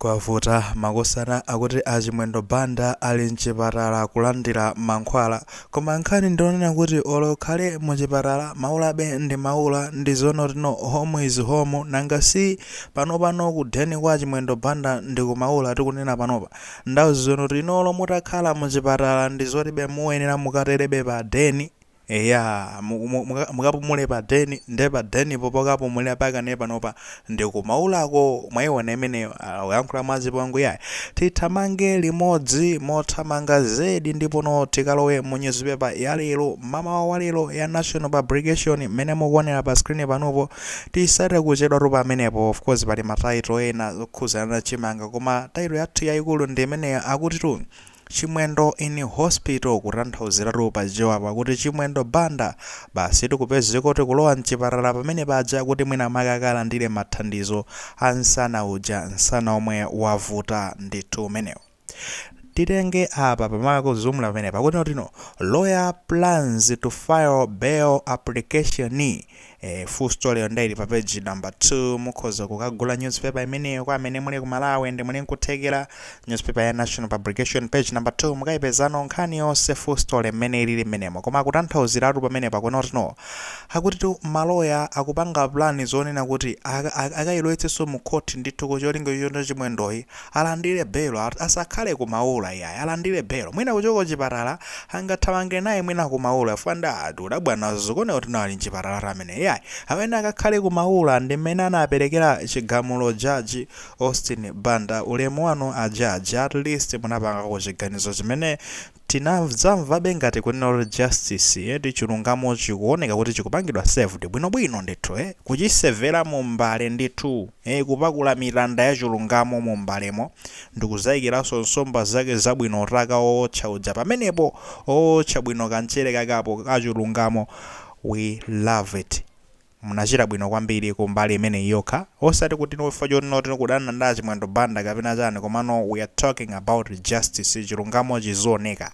Kwavuta makosana akuti a Chimwendo Banda ali mchipatala kulandira mankhwala. Koma nkhani ndi yonena kuti olo ukhale mu chipatala maulabe ndi maula ndi zoonati no home is home nanga si panopano ku den kwa Chimwendo Banda ndi ku maula tikunena panopa. Ndi zoonati no olo mutakhala mu chipatala ndi zotibe muyenera mukaterebe pa den. Eya mu- mu- muka- mukapumule pa den nde pa denipo pokapumulira pakane panopa ndikumaulako mwaiona imeneyo ah, uyankhula mwazipongwe yayi tithamange limodzi mothamanga zedi ndipo no tikalowe mu newspaper ya lero mamawa wa lero ya national publication mmene mukuonera pa screen panopo tisachite kuchedwatu pamenepo of course pali mataito ena okhuzana na chimanga koma taito yathu yayikulu ndi imeneyo akutitu Chimwendo in hospital kutanthauziratu pa Chichewa apa kuti Chimwendo Banda basi tikupezeka kuti kulowa mchipatala pamene paja kuti mwina make akalandire mathandizo a nsana uja nsana omwe wavuta ndithu umenewo titenge apa pamakhala kuzumula pamenepa kuti noti no lawyer plans to file bail application Eh, full story yo nde ili pa page number 2 mukhoza kukagula newspaper imeneyo kwa amene muli ku Malawi nde muli nkuthekera newspaper ya National Publication page number 2 mukayipezano nkhani yonse full story mmene ilili mmenemo koma kutanthauziratu pamenepa kunena kuti no akutitu maloya akupanga plan zonena kuti aka- aka- akayilowetsenso mu court ndithu kucholinga choti Chimwendoyu Alandire belo asakhale ku maula iyayi alandire belo mwina kuchoka kuchipatala angathamange naye mwina ku maula chifukwa nde tikudabwa nazo zikuoneka kuti nawo ali mchipatalatu ameneyo iyayi amene akakhale ku maula ndi mmene anapelekera chigamulo judge Austin Banda ulemu wanu a judge at least munapangako chiganizo chimene Tinazimvabe ngati kunena kuti justice eti chilungamo chikuoneka kuti chikupangidwa served bwinobwino ndithu eh, kuchisevera mu mbale ndithu eh, kupakula mitanda ya chilungamo mu mbalemo ndikuzaikiranso nsomba zake zabwino utaka ootcha uja pamenepo ootcha bwino kamchere kake apo kachilungamo we love it. Munachita bwino kwambiri ku mbali imeneyi yokha, osati kuti chifukwa choti no tikudana ndi a Chimwendo Banda kapena chani komano we are talking about justice, chilungamo chizioneka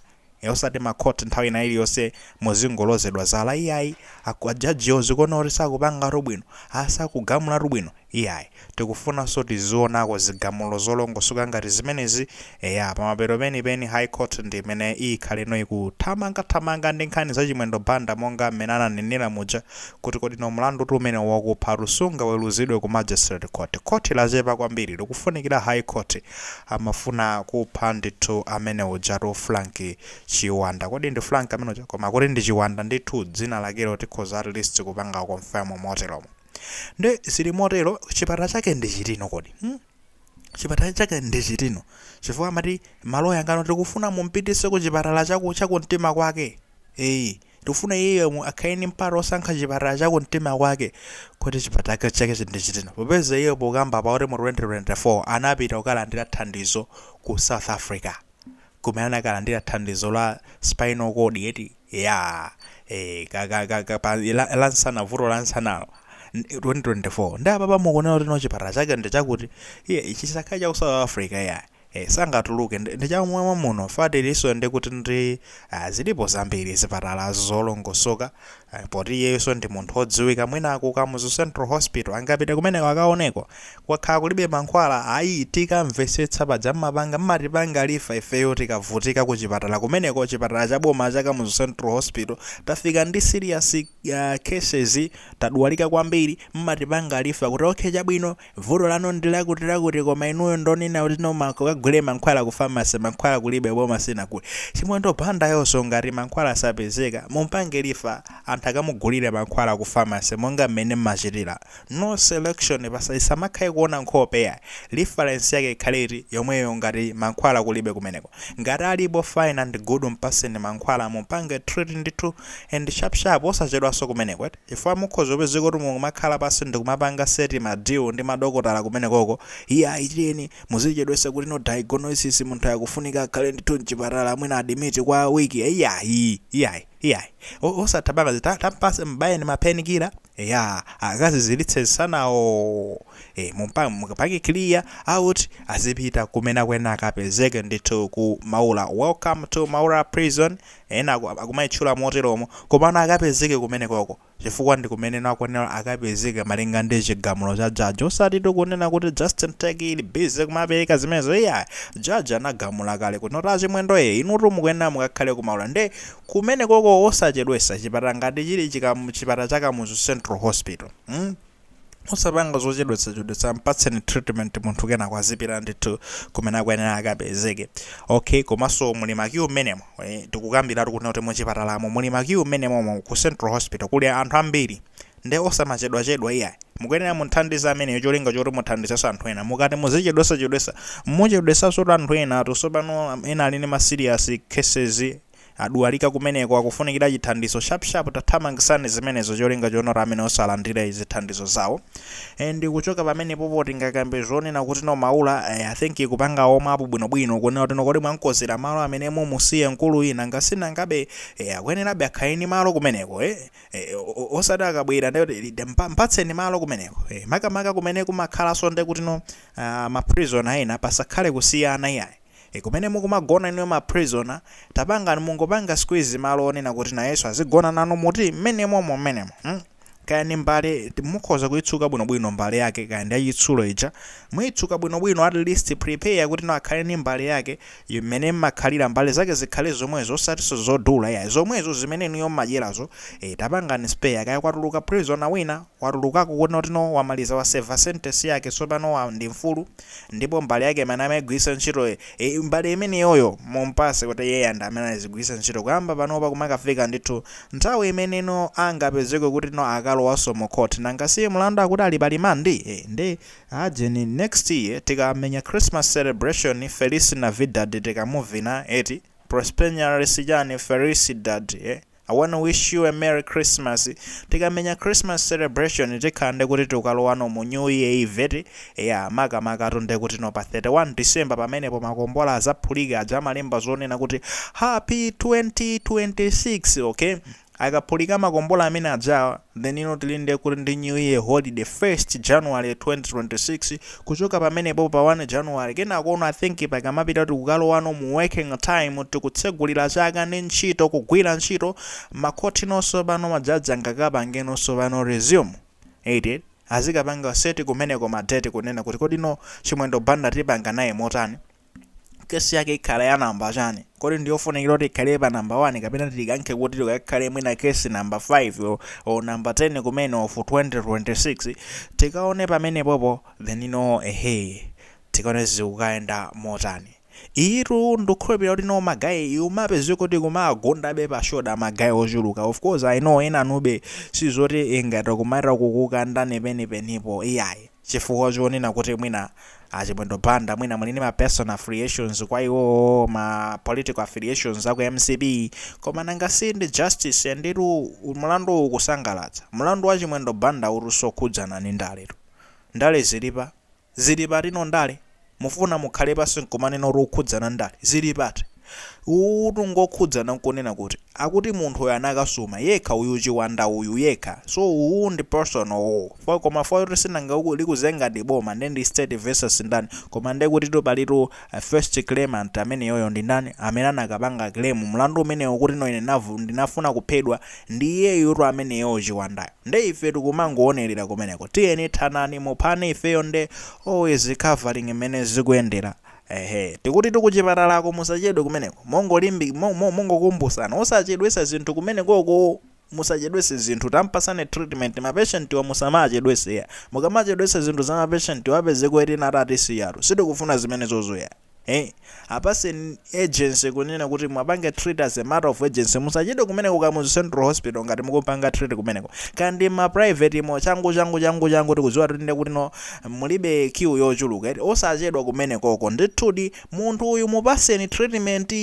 osati ma court nthawi ina iliyonse muzingolozedwa zala iyayi a judgewo zikuoneka kuti sakupangatu bwino, a sakugamulatu bwino. Iyayi. Tikufunanso tizionako zigamulo zolongosoka ngati zimenezi. Eya, pamapeto penipeni High Court ndi imene iyikhaleno ikuthamangathamanga ndi nkhani za Chimwendo Banda monga mmene ananenera muja kuti kodi no mlandutu umenewu wakuphatu sungaweruzidwe ku Magistrate Court. Khoti lachepa kwambiri, likufunikira High Court. Amafuna kupha ndithu amene ujatu Frank Chiwanda. Kodi ndi Frank amene uja? Koma kuti ndi Chiwanda ndithu dzina lakelo tikhoza at least kupanga confirm moteromo. nde zili motero chipatala chake ndi chitino kodi hmm? chipatala chake ndi chitino chifukwa amati maloya ake aja tikufuna mumpitise ku chipatala chakumtima kwake eyi tikufuna iyeyo mu- akhale ni mpata osankha chipatala chakumtima kwake kuti chipatala chake ndi chitino popeza iyeyo pokamba pa kuti mu 2024 anapita kukalandira thandizo ku south africa kumene anakalandira thandizo la spinal cord eti yaa eh, ka- ka- ka- ka- pa- la la nsana vuto la nsanalo N- 2024 ndi apapa mukuona kuti no chipatala chake ndi chakuti iye ichi chisakhale cha ku south africa ya eh, sangatuluke ndi ndi chamwamwa muno fact ilinso ndi kuti ndi ah, zilipo zambiri zipatala zolongosoka Eh, poti iyeyoso ndi munthu odziwika mwina ku kamuzu central hospital angapite kumeneko akaoneko kwakhala kulibe mankhwala ayi tikamvesetsa paja mmapanga mmatipanga refer ifeyo tikavutika ku chipatala kumeneko chipatala cha boma cha kamuzu central hospital tafika ndi serious uh, cases tadwalika kwambiri mmatipanga refer kuti okay chabwino Vuto lanu ndilakuti lakuti koma inuyo ndonena kuti mukagule mankhwala ku pharmacy mankhwala kulibe boma sinagule chimwendo banda iyeyoso ngati mankhwala asapezeka mumpange refer anthu akamugulile mankhwala ku pharmacy monga mmene mmachitila no selection pasa pasamakhale kuona nkhope yayi reference yake ikhale eti yomweyo ngati mankhwala kulibe kumeneko ngati alipo fine and good mpaseni mankhwala mumpange treat ndithu and sharp sharp osachedwaso kumeneko eti. Chifukwa mukhoza kupezeka kuti mukumakhala pansi ndikumapanga set ma deal ndi madokotala kumenekoko, iyayi tiyeni muzichedwetsa kuti no diagnosis munthuyu akufunika akhale ndithu mchipatala mwina admit kwa week iyayi iyayi iyayi osatipanga izi tampatseni m'bayeni ma pain killer eya akaziziritse nsanawo eh mumpang mukapange clear out azipita kumene akuyenera akapezeke ndithu ku Maula. Welcome to Maula Prison. Ena aku, akumaitchula moteromo, komano akapezeke kumenekoko, chifukwa ndi kumene akuyenera akapezeke malinga ndi chigamulo cha judge. Osatitu kunena kuti Just Talk ili busy kumapereka zimenezo, iyayi. Judge anagamula kale kuti no a Chimwendo ee, inutu mukuyenera mukakhale ku Maula. Nde kumenekoko osachedwetsa, chipatala ngati chili chika, chipatala cha Kamuzu Central Hospital, mmh, osapanga zochedwetsachedwetsa mpatseni treatment munthu kenako azipita ndithu kumene akuyenera akapezeke okay komanso muli ma queue mmenemo eh, tikukambiratu kuti kuti muchipatalamo muli ma queue mmenemomo ku central hospital kuli anthu ambiri nde osamachedwachedwa iyayi mukuyenera mumthandize ameneyo cholinga choti muthandizenso anthu ena mukati muzichedwesachedwesa muchedwesanso anthu ena ati tsopano ena ali ndi ma serious cases Adwalika kumeneko akufunikira chithandizo sharp sharp tathamangisani zimenezo cholinga choona amene osalandira zithandizo zawo and kuchoka pamene popo tingakambe zonena kuti no Maula I think kupanga warm up bwino bwino kunena kuti no kodi mwamkonzera malo amene mumusiye mkuluyi nanga si nangabe eh, akuyenerabe akhale ndi malo kumeneko eh, eh, osati akabwera ndekuti mpatseni malo kumeneko eh, makamaka kumene kumakhalanso ndekuti no uh, ma prisoner ena pasakhale kusiyana iyayi E kumene mukumagona inuyo ma prisoner tapangani mungopanga squeeze malo onena kuti nayenso azigona nanu muti mmenemomo mmenemo mm kaya ndi mbale mukhoza kuitsuka bwinobwino mbale yake kaya ndi yachitsulo ija muitsuka bwinobwino at least prepare kuti no akhale ndi mbale yake yu- mmene mmakhalira mbale zake zikhale zomwezo osatinso zodula iyayi zomwezo zimene inuyo mmadyerazo e tapangani spare kaya kwatuluka prisoner wina watulukako kuti no wamaliza wa serve sentence yake tsopano wa ndi mfulu ndipo mbale yake imene amaigwiritsa ntchito e, mbale imeneyoyo mumpatse kuti iyeyo ndi amene azigwiritsa ntchito kuyamba panopa kumakafika ndithu nthawi imene no angapezeke kuti no akalowanso mu court nanga si mlandu akuti ali pa limandi e, nde ajeni next year tikamenya christmas celebration feliz navidad tikamuvina eti prospero año chani felicidad e, I wanna wish you a merry Christmas tikamenya Christmas celebration tikhala ndekuti tikukalowano mu new year eve eti? eya makamakatu ndekuti no pa 31 December pamenepo makombola azaphulika aja amalemba zonena kuti happy 2026 okay? akaphulika makombola amene ajawa. Then no tili nde kuti ndi new year holiday 1st January 2026 kuchoka pamenepo pa 1 January kenako no I think pakamapita kuti tikukalowano mu working time tikutsegulira chaka ndi ntchito kugwira ntchito makhothi no tsopano majaji angakapange no tsopano resume eti azikapanga set kumeneko ma date kunena kuti kodi no Chimwendo Banda tipanga naye motani kesi yake ikhala ya namba chani kodi ndiyofunikira kuti ikhale pa namba 1 kapena tikankhe kuti ikakhale mwina kesi namba 5 o, o namba 10 kumene of 2026 tikaone pamenepopo then no ehe tikaone zikukayenda motani iyitu ndikukhulupirira kuti no magayi ikumapezeka kuti kumagundabe pa shoda magayi ochuluka of course i know enanube sizoti ngati kumaita kukukandani penipeni iyayi chifukwa chonena kuti mwina a Chimwendo Banda mwina muli ndi ma personal affiliations kwa iwowo, ma political affiliations aku mcp, koma nanga si ndi justice nditu mulanduwu ukusangalatsa, mulandu wa Chimwendo Bandawutu sokhudzana ndi ndaletu, ndale zili pati, zili pati no ndale? Mukufuna mukhale pansi nkumanena kuti zikukhudzana ndale? Zili pati? Uwutu ngokhudzana nkunena kuti akuti munthu uyu anakasuma, yekha uyu Chiwanda uyu, yekha. So uwu ndi personal uwu. Fo koma fo yoti sinanga likuzenga ndi boma nde ndi state versus ndani. Koma nde kutitu palitu first claimant ameneyoyo ndi ndani? Amene anakapanga claim mlandu umenewo kuti no ine ndinavu ndinafuna kuphedwa ndi iyeyutu ameneyo Chiwandayo. Nde ife tikumangoonerera kumeneko tiyeni thanani muphane ifeyo nde always covering mmene zikuyendera eeh tikuti kuchipatalako musachedwe kumeneko mongolimbi mo mo mongokumbusana osachedwesa zinthu kumenekoko musachedwese zinthu tampasani treatment ma patient wa musamawachedwese iya mukamachedwesa zinthu za ma patient wa apezeke eti ena ati atisiyatu sitikufuna zimenezozo iya. Eeh apaseni urgency kunena kuti muapange treat as a matter of urgency musachedwe kumeneko ku kamuzu central hospital ngati mukupanga treat kumeneko kaya ndi ma private mo changu changu changu changu tikudziwa kuti nde kuti no mulibe queue yochuluka eti osachedwa kumenekoko ndithudi munthu uyu mupaseni treatment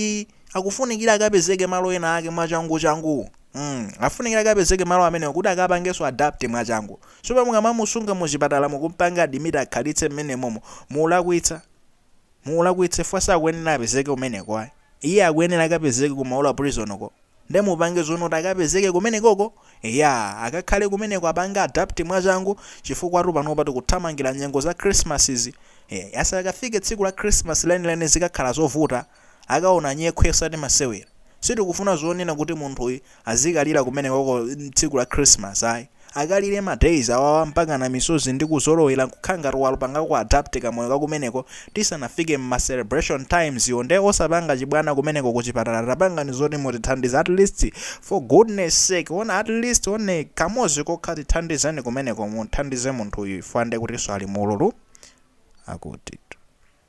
akufunikira akapezeke malo ena ake mwachangu changu mm afunikira akapezeke malo amenewo kuti akapangenso adapt mwachangu chifukwa mukamamusunga muchipatala mukumpanga admit akhalitse mmenemomo mulakwitsa mulakwitse chifukwa sakuyenera apezeke kumeneko ayi iye akuyenera akapezeke ku maula prison uko nde mupange zoti kuti akapezeke kumenekoko ya akakhale kumeneko apange adapt mwachangu chifukwatu panopa tikuthamangira nyengo za christmas izi Eh, asakafike tsiku la christmas lenileni zikakhala zovuta akaona nyekhwe osati masewera. Sitikufuna zonena kuti munthuyu azikalira kumenekoko tsiku la Christmas ayi. Akalire ma days awawa mpakana misozi ndi kuzolowera kukhala ngati walupanga ku adapt kamoyo ka kumeneko tisanafike mma celebration times wo nde osapanga chibwana kumeneko kuchipatala tapangani zoti mutithandize at least for goodness sake ona at least one kamodzi kokha tithandizeni kumeneko mumthandize munthuyu chifukwa ndekutinso ali muululu akuti.